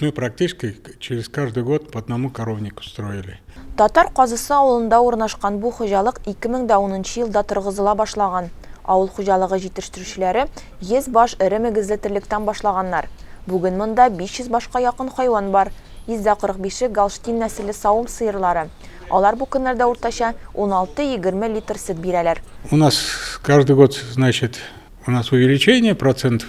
Мы практически через каждый год по одному коровнику строили. Татар Казысы авылында урнашкан бу хуҗалык 2010 нчы елда торгызыла башлаган. Авыл хуҗалыгы җитештерүчеләре 100 баш эре мөгезле терлектән башлаганнар. Бүген монда 500 башка якын хайван бар. 145-е Галштин нәселле савым сыерлары. Алар бу көннәрдә уртача 16-20 литр сөт бирәләр. У нас каждый год, значит, у нас увеличение процентов.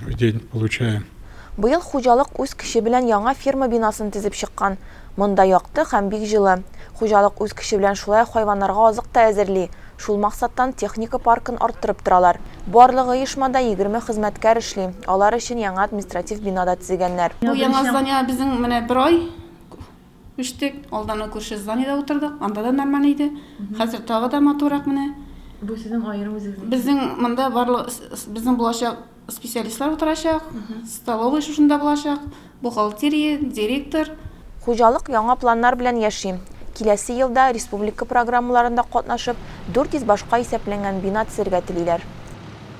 В день получаем. Быел хуҗалык үз көче белән яңа ферма бинасын төзеп чыккан. Монда якты һәм бик җылы. Хуҗалык үз көче белән шулай ук хайваннарга азык та әзерли. Шул максаттан техника паркын арттырып торалар. Барлык оешмада егерме хезмәткәр эшли, алар өчен яңа административ бина да төзегәннәр. Бу яңа здание безнең менә бер ай Үстек, алдана күрше зданиедә утырдык, анда да нормаль иде. Хәзер тагы да матуррак менә. Бу сезнең аерым үзегезнең. Безнең монда барлык безнең булачак специалистлар утырачак, столовый шушында булачак, бухгалтерия, директор. Хуҗалык яңа планнар белән яши. Киләсе елда республика программаларында катнашып, 400 башка исәпләнгән бина төзергә телиләр.